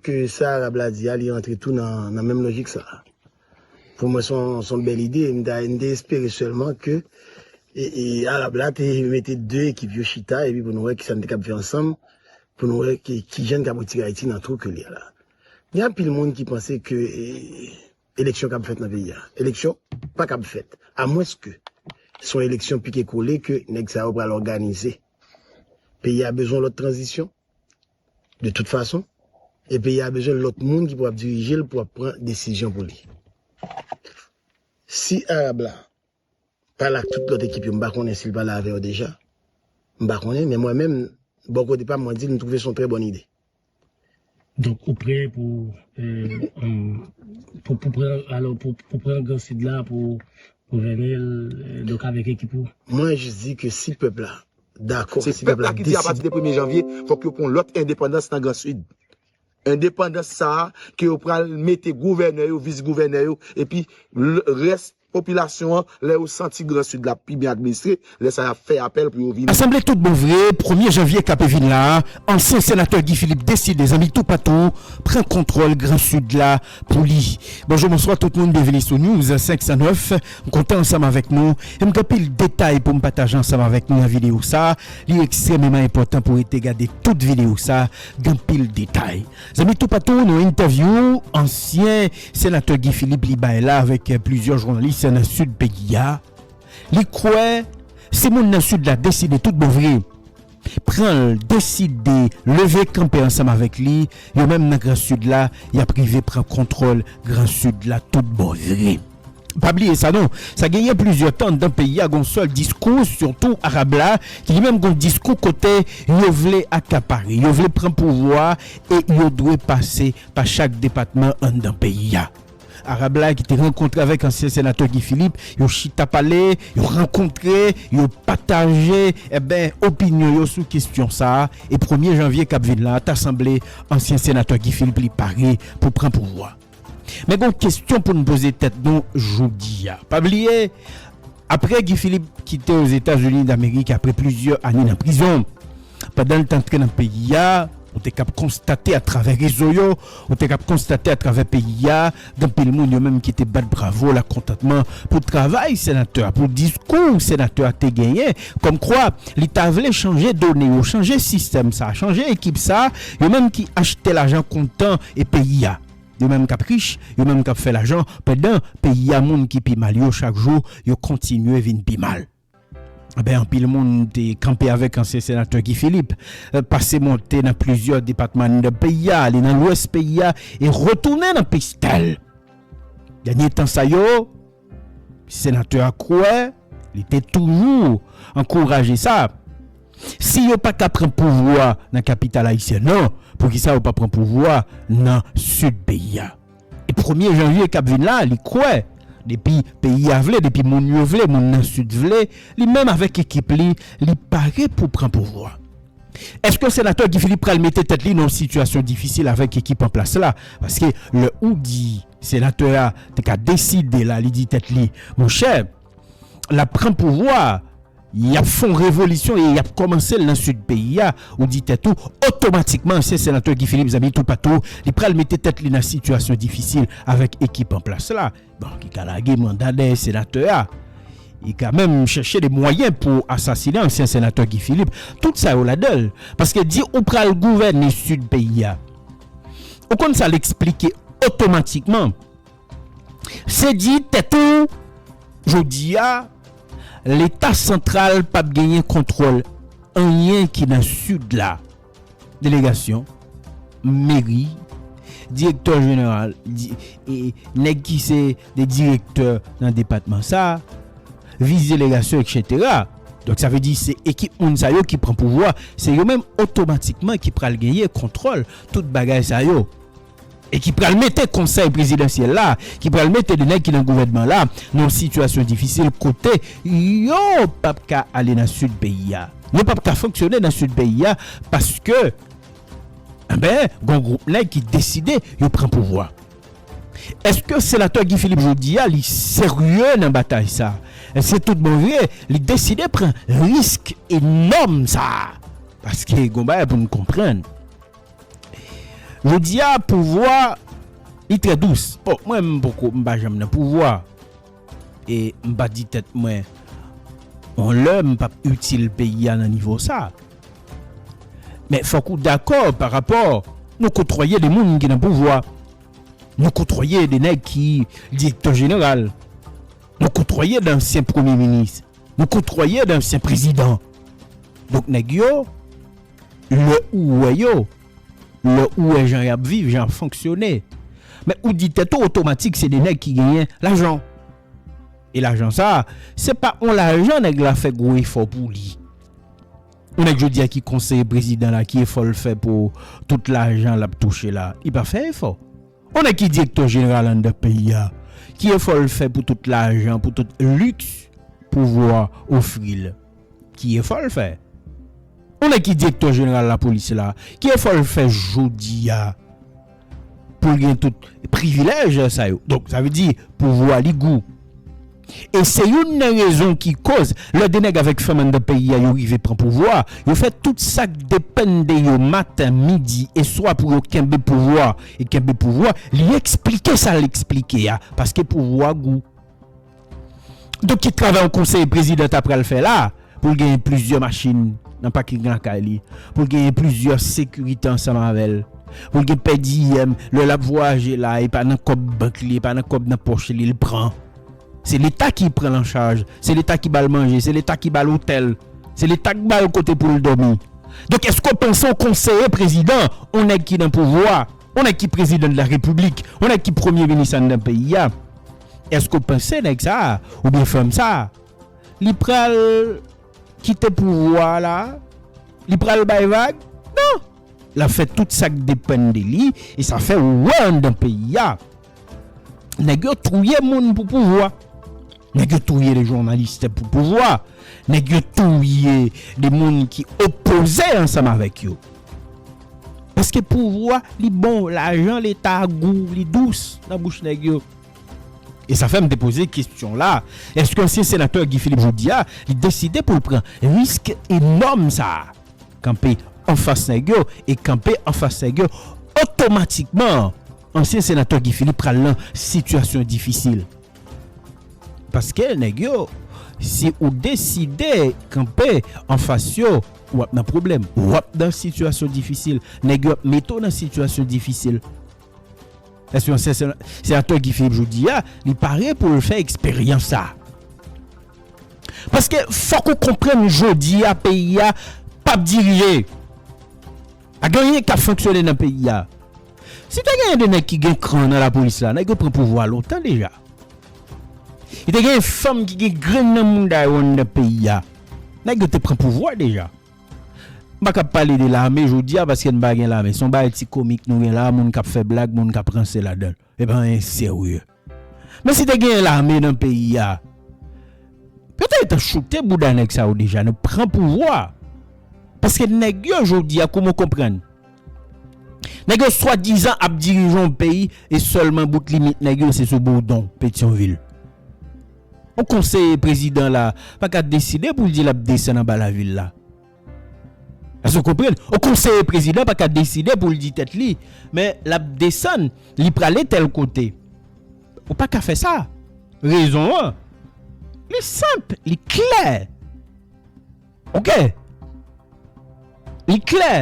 Ke sa Arab la di a li antre tou nan menm lojik sa a. Pou mwen se yon bèl ide, m ta espere sèlman ke Arab la te mete 2 ekip yo chita epi pou nou wè kisa nou te kab fè ansanm pou nou wè kijan n kab retire Ayiti nan twou ke li ye la. Gen anpil moun ki panse ke eleksyon kab fèt nan peyi a. Eleksyon pa kab fèt a mwens ke se yon eleksyon pike kole ke nèg sa yo pral òganize. Peyi a bezwen lòt tranzisyon. De tout fason, e peyi a bezwen lòt moun ki pou ap dirije l pou ap pran desizyon pou li. Si Arab la pale ak tout lòt ekip yo, m pa konnen si l pale avè yo deja, m pa konnen, men mwen menm, bò kote pa m, mwen di l m twouve se yon trè bòn ide. Donk ou prè pou pran gran Sid la pou gouvène l, donk avèk ekip ou? Mwen jis di ke si pèp la Se pèp la ki di apati de premye janvye fòk yo pran lòt endepandans nan gran sid. Endepandans sa a ke yo pral mete gouvènè yo, vis gouvènè yo epi rès popilasyon an lè yo santi gran sid la ap pi byen administre, lè sa y ap fè apèl pou yo vini. Sanble tout bon vre premye janvye k ape vin la a ansyen senatè Guy Philippe deside zanmi toupatou pran kontwòl gran sid la Pou li. Bonjou bonswa tout moun byenvini sou news 509 m kontan ansanm avèk nou e m gen anpil detay pou m pataje ansanm avèk nou nan videyo sa li ekstrememan enpòtan pou rete gade tout videyo sa gen anpil detay zanmi toupatou nou entèvyou ansyen senatè Guy Philippe li bay la avèk plizyè jounalis nan sid peyi a li kwè si moun nan sid la deside tout bon vre pran l deside leve kanpe ansanm avèk li, yo menm nan gran sid la y ap rive pran kontwòl gran sid la tout bon vre. Pa bliye sa non, sa genyen plizyè tan anndan peyi a gon sèl diskou sitou arab la ki li menm gon diskou kote yo vle akapare, yo vle pran pouvwa e yo dwe pase pa chak depatman anndan peyi a. Arab la ki te rankontre avèk ansyen senatè Guy Philippe, yo chita pale, yo rankontre, yo pataje enben opinyon yo sou kesyon sa a e premye janvye k ap vin la ta sanble ansyen senatè Guy Philippe li pare pou pran pouvwa. Men gen yon kesyon pou n poze tèt nou jodi a. Pa bliye Aprè Guy Philippe kite Ozetazini Damerik aprè plizyè ane nan prizon. Pandan l t antre nan peyi a, ou te kab konstate atravè rezo yo, ou te kab konstate atravè peyi a, gen anpil moun yo menm ki te bat bravo lakontantman pou travay senatè a, pou diskou senatè a te genyen, kòmkwa li ta vle chanje done yo, chanje sistèm sa, chanje ekip sa, yo menm ki achte lajan kontan e peyi a. Yo menm kap rich, yo menm kap fè lajan pandan peyi a moun ki pi mal yo chak jou yo kontinye vin pi mal. Anben anpil moun te kanpe avèk ansyen senatè Guy Philippe pase monte nan plizyè depatman anndan peyi a ale nan lwès peyi a e retounen nan pistèl. Dènye tan sa yo senatè a kwè Li te toujou ankouraje sa. Si yo pa ka pran pouvwa nan kapital ayisyèn nan, poukisa yo pa pran pouvwa nan sid peyi a? E premye janvye k ap vin la, li kwè, depi peyi a vle, depi moun yo vle, moun nan sid vle, li menm avèk ekip li, li pare pou pran pouvwa. Èske senatè Guy Philippe pral mete tèt li nan yon sitiyasyon difisil avèk ekip anplas la? Paske lè ou di. Senatè a te ka deside la li di tèt li, monchè, l ap pran pouvwa a, y ap fè yon revolisyon e y ap kòmanse l nan sid peyi a, ou di tèt ou, otomatikman ansyen senatè Guy Philippe zanmi toupatou, li pral mete tèt li nan sitiyasyon difisil avèk ekip an plas la. Bon, li ka lage manda dèyè senatè a, li ka menm chèche de mwayen pou asasinen ansyen senatè Guy Philippe, tout sa yo ladan l. Paske di ou pral gouvène sid peyi a, Ou konn sa l eksplike otomatikman? Se di tèt ou jodi a Leta santral p ap genyen kontwòl anyen ki nan Sid la, delegasyon, meri, direktè jeneral, nèg ki se de direktè nan depatman sa, vis delegasyon eksetera. Donk sa vle di se ekip moun sa yo ki pran pouvwa, se yo menm otomatikman ki pral genyen kontwòl tout bagay sa yo e ki pral mete konsèy prezidansyèl la, ki pral mete 2 nèg ki nan gouvènman la nan yon sitiyasyon difisil kote yo p ap ka ale nan sid peyi a, yo p ap ka fonksyone nan sid peyi a paske anben gon gwoup nèg ki deside yo pran pouvwa. Eske senatè Guy Philippe jodi a li serye nan batay sa? Eske tout bon vre li deside pran risk enòm sa? Paske gon bagay pou nou konprann. Jodi a pouvwa li trè dous. Bon mwen m poko m pa janm nan pouvwa. E m pa di tèt mwen yon lè m pap itil peyi a nan nivo sa. Men fòk ou dakò pa rapò nou kotwaye de moun ki nan pouvwa, nou kotwaye de nèg ki direktè jeneral, nou kotwaye dansyen premye minis, nou kotwaye dansyen prezidan. Donk nèg yo. Lè ou wè yo, lè ou wè jan yap viv, jan yap fonksyone, men ou di tèt ou otomatik se 2 nèg ki genyen lajan. E lajan sa, se pa on lajan nèg la fè gwo efò pou li. On nèg jodi a ki konseye prezidan la ki efò l fè pou tout lajan lap touche la? Li pa fè efò. On nèg ki direktè jeneral anndan peyi a, ki efò l fè pou tout lajan, pou tout liks pouvwa ofri l? Ki efò l fè? Yon nèg ki direktè jeneral lapolis la, ki efò l fè jodi a pou l gen tout privilèj sa yo? Donk sa vle di pouvwa li gou. E se youn nan rezon ki koz lè de nèg avèk fanm anndan peyi a yo rive pran pouvwa a, yo fè tout sa k depann de yo maten, midi e swa pou yo kenbe pouvwa e kenbe pouvwa li eksplike sa l eksplike a paske pouvwa gou. Donk ki travay yon konsèy prezidan ta pral fè la pou l genyen plizyè machin nan paking lakay li, pou l genyen plizyè sekirite ansanm avè l, pou l gen pèdiyèm lè l ap vwayaje la e pa nan kòb bank li, e pa nan kòb nan pòch li l pran? Se leta ki pran l an chaj, se leta ki ba l manje, se leta ki ba l otèl, se leta k ba l kote pou l dòmi. Donk èske w panse yon konseye prezidan, yon nèg ki nan pouvwa, Yon nèg ki prezidan de la repiblik, yon nèg ki premye minis anndan peyi a, èske w panse nèg sa a oubyen fanm sa a li pral kite pouvwa a la a? Li pral bay vag? Non! L ap fè tout sa k depann de li e sa fè ou wè anndan peyi a Nèg yo touye moun pou pouvwa. Nèg yo touye de jounaliste pou pouvwa. Nèg yo touye de moun ki opoze ansanm avèk yo. Paske pouvwa li bon, lajan leta a gou, li dous nan bouch nèg yo. E sa fè m te poze kesyon la, èske ansyen senatè Guy Philippe jodi a, li deside pou l pran risk enòm sa a, kanpe anfas nèg yo e kanpe anfas nèg yo otomatikman? Ansyen senatè Guy Philippe pral nan sitiyasyon difisil. Paske nèg yo, si ou deside kanpe anfas yo, ou ap nan pwoblèm. Ou ap nan sitiyasyon difisil. Nèg yo ap mete w nan sitiyasyon difisil. Èske ansyen senatè Guy Philippe jodi a, li pare pou l fè eksperyans sa a? Paske fòk ou konprann jodi a peyi a p ap dirije. Pa gen anyen kap fonksyone nan peyi a. Si te genyen 2 nèg ki gen kran nan lapolis la, nèg yo pran pouvwa lontan deja. Si te genyen fanm ki gen grenn nan mouda yo anndan peyi a, nèg yo te pran pouvwa deja. M pa kab pale de lame jodi a paske n pa gen lame. Se yon bagay ti komik nou gen la a, moun kap fè blag, moun kap ranse ladan l. E pa anyen serye. Men si te genyen lame nan peyi a, yo ta etan choute bouda nèg sa yo deja nan pran pouvwa. Paske nèg yo jodi a kouman w konprann? Nèg yo swadizan ap dirije yon peyi e sèlman bout limit nèg yo se sou Bourdon, Petyonvil. Yon konseye prezidan la pa ka deside pou l di l ap desann anba lavil la. Èske w konprann? Yon konseye prezidan pa ka deside pou l di tèt li, men l ap desann, li prale tèl kote. Ou pa ka fè sa. Rezon an, li senp, li klè. Oke? Li klè.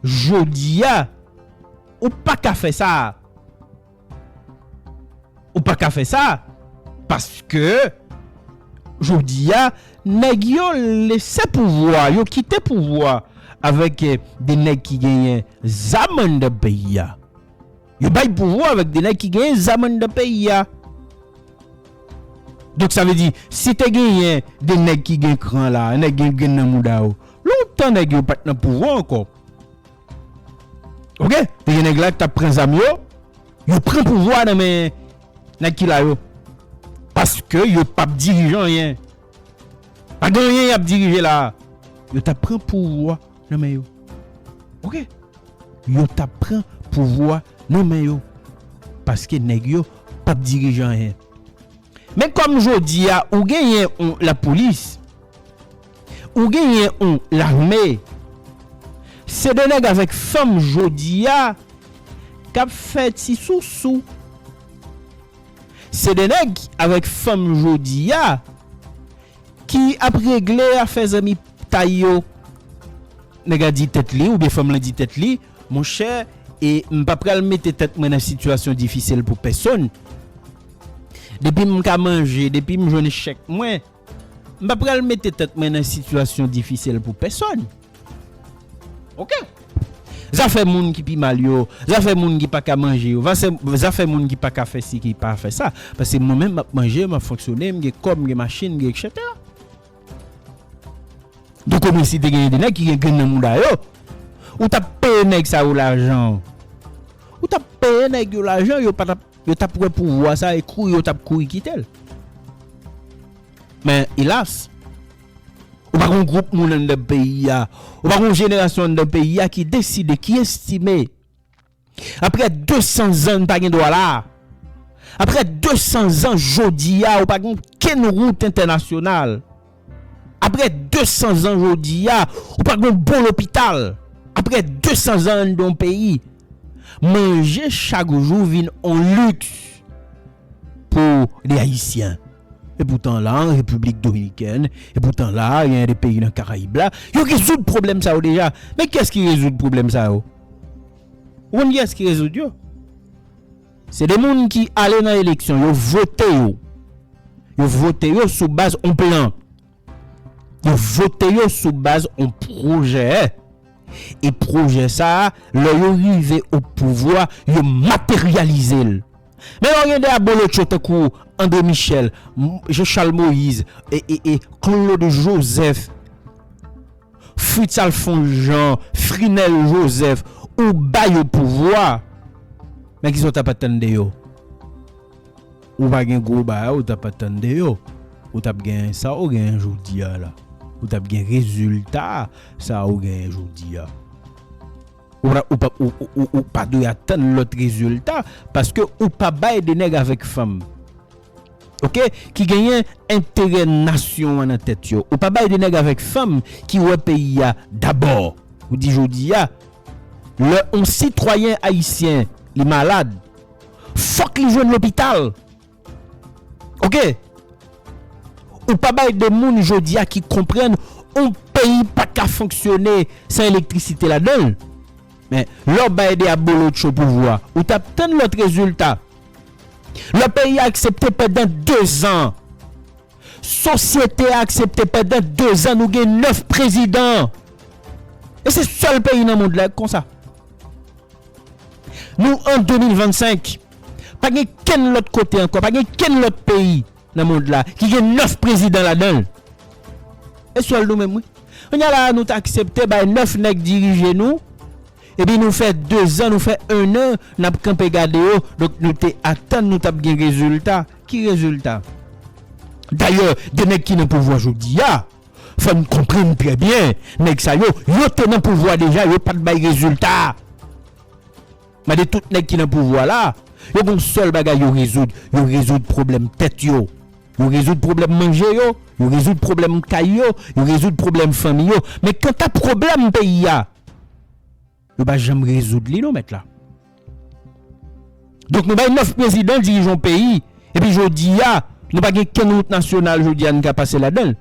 Jodi a, ou pa ka fè sa. Ou pa ka fè sa paske jodi a nèg yo lese pouvwa, yo kite pouvwa avèk de nèg ki genyen zam anndan peyi a. Yo bay pouvwa avèk de nèg ki genyen zam anndan peyi a. Donk sa vle di si te genyen de nèg ki gen kran la, nèg gen grenn nan mouda yo, lontan nèg yo pat nan pouvwa ankò. Ok, te gen nèg la ki tap pran zam yo, yo pran pouvwa nan men nèg ki la yo. Paske yo pap dirije anyen. Pa gen anyen yap dirije la. Yo tap pran pouvwa nan men yo. Ok, yo tap pran pouvwa nan men yo. Paske nèg yo pap dirije anyen. Men kòm jodi a ou genyen yon lapolis, ou genyen yon lame, se de nèg avèk fanm jodi a k ap fè ti sousou, se de nèg avèk fanm jodi a ki ap regle afè zanmi tay yo. Nèg la di tèt li oubyen fanm lan di tèt li, monchè e m pa pral mete tèt mwen nan sitiyasyon difisil pou pèsonn, Depi m ka manje, depi m jwenn chèk mwen, m pa pral mete tèt mwen nan sitiyasyon difisil pou pèsòn. Ok. Zafè moun ki pi mal yo, zafè moun ki pa ka manje yo, zafè moun ki pa ka fè si ki pa fè sa. Pase mwen menm m ap manje, m ap fonksyone, m gen kò, m gen machin, m gen eksetera. Donk omwen si te genyen de nèg ki gen grenn nan mouda yo, ou t ap peye nèg sa yo lajan. Ou t ap peye nèg yo lajan, yo pa t ap Yo tap wè pouvwa sa e kouri yo tap kouri kitel. Men elas, ou pa gon gwoup moun anndan peyi a, ou pa gon jenerasyon anndan peyi a ki deside, ki estime, aprè 200 zan n pa gen dwa la, aprè 200 zan jodi a ou pa gen okenn wout entènasyonal, Aprè 200 zan jodi a, ou pa gen yon bon lopital. Aprè 200 zan anndan yon peyi, manje chak jou vin yon liks pou de Ayisyen. Epoutan la an Repiblik Dominikèn, epoutan la a gen de peyi nan Karayib la, yo rezoud pwoblèm sa yo deja. Men kiyès ki rezoud pwoblèm sa yo? Ou konn kiyès ki rezoud yo? Se de moun ki ale nan eleksyon, yo vote yo. Yo vote yo sou baz yon plan. Yo vote yo sou baz yon pwojè. E pwojè sa a, lè yo rive opouvwa, yo materyalize l. Men lè w gen de abolotcho tankou André Michel, Jean Charles Moïse, Claude Joseph. Fritz Alphonse Jean, Frinel Joseph ou ba yo pouvwa men kisa w tap atann de yo? Ou pa gen gwo bagay ou tap atann de yo. Ou tap gen sa ou genyen jodi a la. Ou tap gen rezilta sa ou genyen jodi a. Ou pa dwe atann lòt rezilta paske ou pa bay de nèg avèk fanm. ok ki genyen enterè nasyon an nan tèt yo ou pa bay de nèg avèk fanm ki wè peyi a dabò ou di jodi a lè on sitwayen ayisyen li malad fòk li jwenn lopital ok ou pa bay de moun jodi a ki konprann on peyi pa ka fonksyone san elektrisite ladanl men lè w bay de abolotcho pouvwa ou tap tann lòt rezilta. Lè peyi a aksepte pandan 2 zan, sosyete a aksepte pandan 2 zan nou gen 9 prezidan. E se sèl peyi nan mond la k konsa. Nou an 2025, pa gen kenn lòt kote ankò, pa gen kenn lòt peyi nan mond la ki gen 9 prezidan ladan l. E sèl nou menm wi. Kounya la a nou t aksepte bay 9 nèg dirije nou. Epi nou fè dezan nou fè ennan nap kanpe gade yo donk nou te atann nou tap gen rezilta ki rezilta? Dayè de nèg ki nan pouvwa jodia fòn konprann trè byen nèg sa yo yo te nan pouvwa deja yo pat bay rezilta mande tout nèg ki nan pouvwa la yo gon sèl bagay yo rezoud yo rezoud pwoblèm tèt yo yo rezoud pwoblèm manje yo yo rezoud pwoblèm kay yo yo rezoud pwoblèm fanmi yo men kanta pwoblèm peyi a Yo pa janm rezoud li non mèt la. Donk nou bay 9 prezidan dirije yon peyi epi jodi a nou pa gen kenn wout nasyonal jodi a nou ka pase ladan l.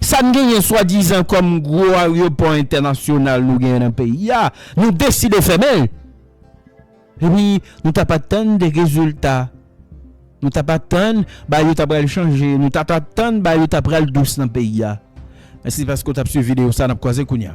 Sa n genyen swadizan kòm gwo aryopò entènasyonal nou genyen nan peyi a nou deside fèmen l. Epi nou tap atann de rezilta. Nou tap atann bagay yo ta pral chanje. Nou tap atann bagay yo ta pral dous nan peyi a. Mèsi paske w tap swiv videyo sa nap kwaze kounya.